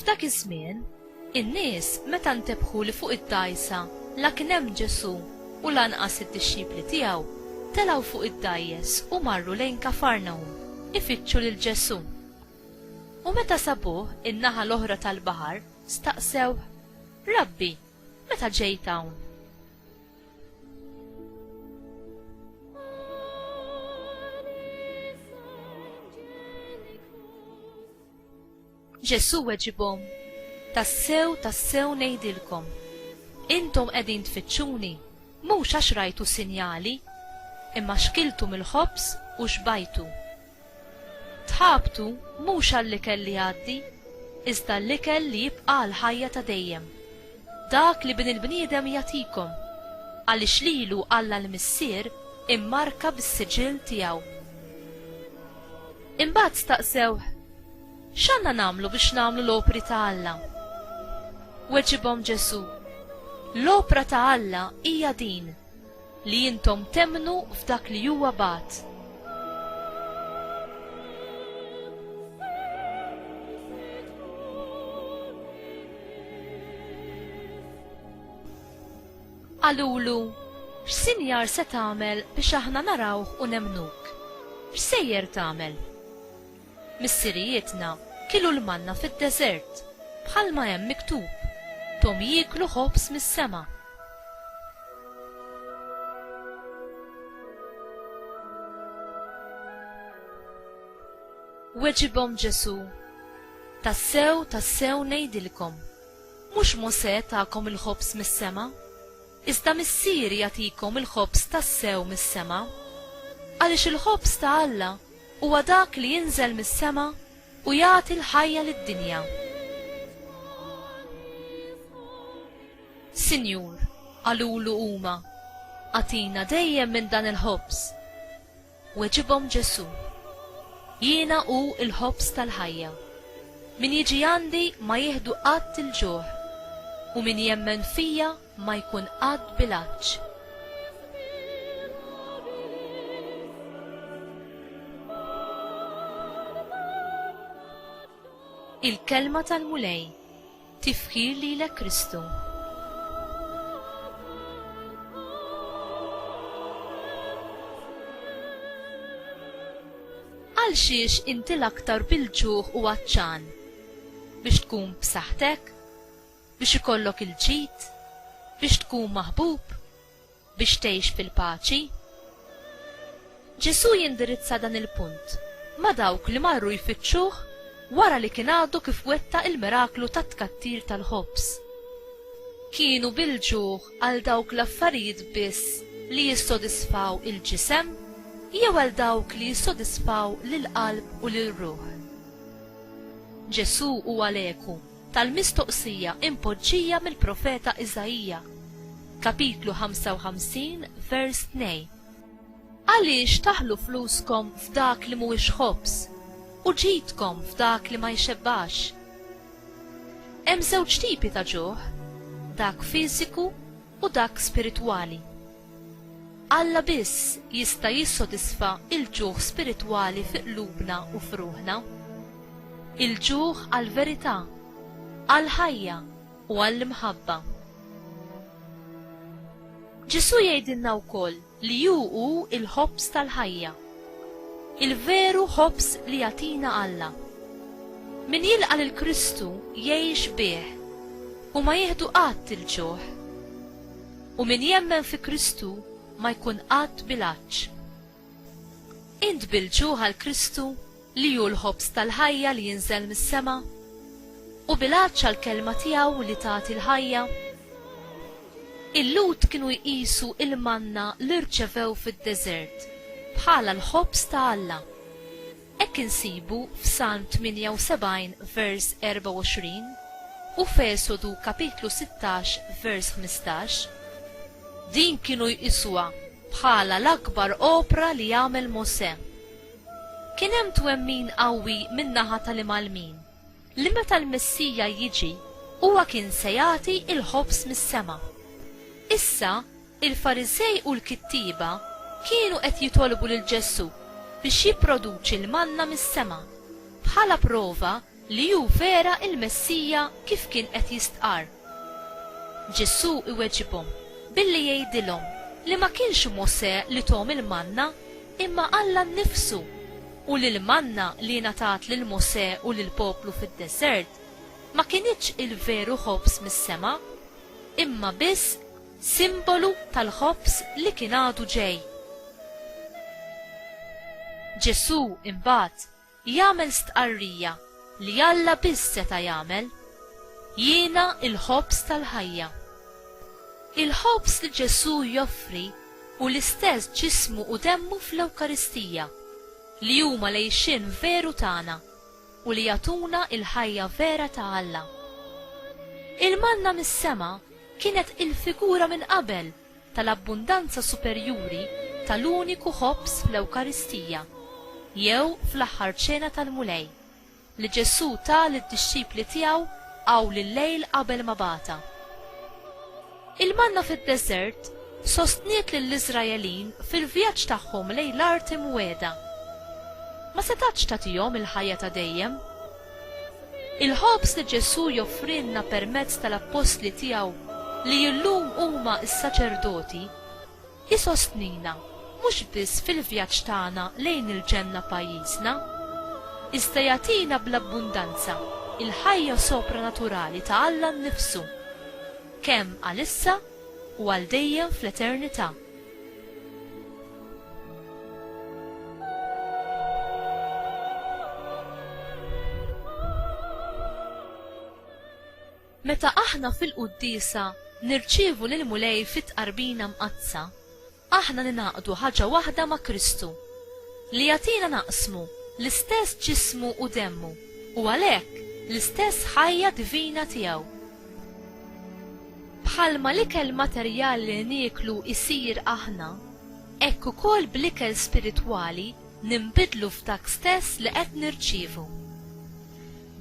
F'dak iż-żmien, in-nies meta ntebħu li fuq id-dgħajsa la kien hemm Ġesù u lanqas id-dixxipli tiegħu, telgħu fuq id-dgħajjes u marru lejn Kafarnahum ifittxu lil Ġesù. U meta sabuh in-naħa l-oħra tal-baħar, staqsewh, Rabbi, meta ġejt hawn? Ġesù weġibhom, Tassew, tassew ngħidilkom, intom qegħdin tfittxuni mhux għax rajtu sinjali, imma xkiltu mill-ħobż u xbajtu, Tħabtu mhux għall-ikel li jgħaddi, iżda għall-ikel li jibqa' għall-ħajja ta' dejjem, dak li Bin il-bniedem jagħtikom, għaliex lilu Alla l-Missier immarka bis-siġill tiegħu. Imbagħad staqsewh, X'għandna nagħmlu biex nagħmlu l-opri ta' Alla? Weġibhom Ġesù, L-opra ta' Alla hija din, Li intom temmnu f'dak li huwa bagħat. Qalulu, X'sinjar se tagħmel biex aħna narawh u nemmnuk? X'sejjer tagħmel? Missirijietna kielu l-manna fid-deżert, bħalma hemm miktub, 'Thom jieklu ħobż mis-sema. Weġibhom Ġesù, Tassew, tassew ngħidilkom, mhux Mosè takom il-ħobż mis-sema, iżda Missieri jagħtikom il-ħobż tassew mis-sema. Għaliex il-ħobż ta' Alla Huwa dak li jinżel mis-sema u jagħti l-ħajja lid-dinja. Sinjur, qalulu huma, agħtina dejjem minn dan il-ħobż. Weġibhom Ġesù, Jiena hu l-ħobż tal-ħajja. Min jiġi għandi ma jieħdu qatt il-ġuħ, u min jemmen fija ma jkun qatt bilanċ. Il-Kelma tal-Mulej, Tifħir lilek Kristu. Għal xiex inti l-aktar bil-ġuħ u għatxan? Biex tkun b'saħħtek? Biex ikollok il-ġid? Biex tkun maħbub? Biex tgħix fil-paċi? Ġesù jindirizza dan il-punt ma' dawk li marru jfittxuh wara li kien għadu kif wettaq il-miraklu tat-tkattir tal-ħobż. Kienu bil-ġuħ għal dawk l-affarijiet biss li jissodisfaw il-ġisem jew għal dawk li jissodisfaw lill-qalb u lir-ruħ? Ġesù huwa l-eku. tal-mistoqsija impoġġija mill-profeta Iżaija, Kapitlu 55, vers 2, Għaliex taħlu fluskom f'dak li mhuwiex ħobż, u ġidkom f'dak li ma jxebbax? Hemm żewġ tipi ta' ġuħ, dak fiżiku u dak spiritwali. Alla biss jista' jissodisfa l-ġuħ spiritwali fi qlubna u f'ruħna. Il-ġuħ għall-verità, għall-ħajja u għall-imħabba. Ġesù jgħidilna wkoll li hu hu l-ħobż tal-ħajja. Il-veru ħobż li jagħtina Alla. Min jilqa' lil Kristu jgħix bih u ma jieħdu qatt il-ġuħ. U min jemmen fi Kristu ma jkun qatt bil-għatx. Int bil-ġuħ għal Kristu li hu l-ħobż tal-ħajja li jinżel mis-sema? U bil-għatx għall-Kelma tiegħu li tagħti l-ħajja? Il-Lhud kienu jqisu l-manna li rċevew fid-deżert bħala l-ħobż ta' Alla. Hekk insibu f'Salm 78 vers 24 u f'Esodu kapitlu 16 vers 15. Din kienu jqisuha bħala l-akbar opra li għamel Mosè. Kien hemm twemmin qawwi min-naħa tal-Imgħallmin li meta l-Messija jiġi huwa kien se jagħti l-ħobż mis-sema. Issa, Il-Fariżej u l-kittieba kienu qed jitolbu lil Ġesù biex jipproduċi l-manna mis-sema, bħala prova li hu vera l-Messija kif kien qed jistqarr. Ġesù iweġibhom billi jgħidilhom li ma kienx Mosè li thom il-manna imma Alla nnifsu u li l-manna li ngħatat lil Mosè u lill-poplu fid-deżert ma kinitx il-veru ħobż mis-sema imma biss simbolu tal-ħobż li kien għadu ġej. Ġesù imbagħad jagħmel stqarrija li Alla biss seta' jagħmel, Jiena l-ħobż tal-ħajja. Il-ħobż li Ġesù joffri hu l-istess ġismu u demmu fl-Ewkaristija, li huma l-għixien veru tagħna. u li jagħtuna l-ħajja vera ta' Alla. Il-manna mis-sema kienet il-figura minn qabel tal-abbundanza superjuri tal-uniku ħobż fl-Ewkaristija, jew fl-Aħħar Ċena tal-Mulej, li Ġesù ta lid-dixxipli tiegħu awl il-lejl qabel ma bagħatha. Il-manna fid-deżert sostniet lill-Iżraelin fil-vjaġġ tagħhom lejn l-Art Imwiegħda. Ma setgħatx tagħtihom il-ħajja ta' dejjem. Il-ħobż li Ġesù joffrilna permezz tal-appostli tiegħu li llum huma s-saċerdoti, Isostnina mhux biss fil-vjaġġ tagħna lejn il-ġenna pajjiżna, iżda jagħtina bl-abbundanza il-ħajja sopranaturali ta' Alla nnifsu, kemm għal issa u għal dejjem fl-eternità. Meta aħna fil-quddiesa nirċievu lill-Mulej fit-Tqarbina Mqaddsa, aħna ningħaqdu ħaġa waħda ma' Kristu, li jagħtina naqsmu l-istess ġismu u demmu, u għalhekk l-istess ħajja divina tiegħu. Bħalma l-ikel materjali li nieklu jsir aħna, hekk ukoll bl-ikel spiritwali ninbidlu f'dak stess li qed nirċievu.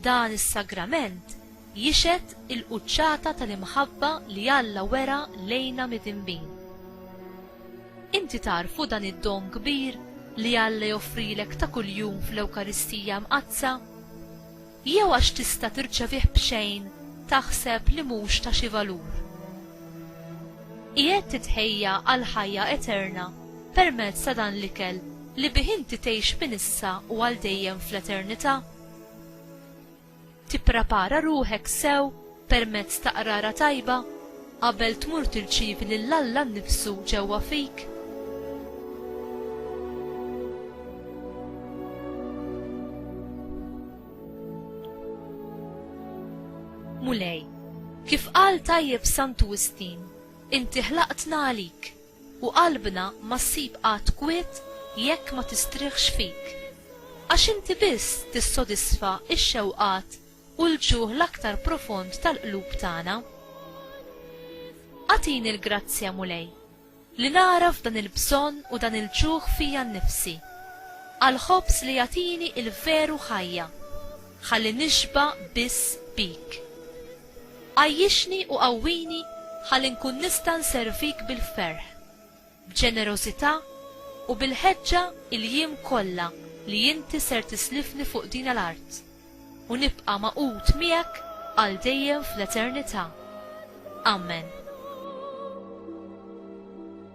Dan is-sagrament Jixhed il-quċċata tal-imħabba li Alla wera lejna midinbin. Inti tagħrfu dan id-don kbir li Alla joffrilek ta' kuljum fl-Ewkaristija Mqaddsa? Jew għax tista' tirċevih b'xejn taħseb li mhux ta' xi valur? Qiegħed titħejja għall-ħajja eterna permezz ta' dan l-ikel li bih inti tgħix minn issa u għal dejjem fl-eternità? Tipprepara ruħek sew permezz ta' qrara tajba qabel tmur tirċievi lil Alla nnifsu ġewwa fik. Mulej, kif qal tajjeb Santu Wistin, inti ħlaqtna għalik. U qalbna ma ssib qatt kwiet jekk ma tistrieħx fik. Għax inti biss tissodisfa x-xewqat u l-ġuħ l-aktar profond tal-qlub tagħna. Agħtini l-grazzja, Mulej, li nagħraf dan il-bżonn u dan il-ġuħ fija nnifsi, għall-ħobż li jagħtini l-veru ħajja, ħalli nixba' biss bik. Għajjixni u qawwini ħalli nkun nista' nservik bil-ferħ, b'ġenerożità u bil-ħeġġa il-jiem kollha li inti ser tislifni fuq dina l-art, u nibqa' magħqud miegħek għal dejjem fl-eternità. Amen.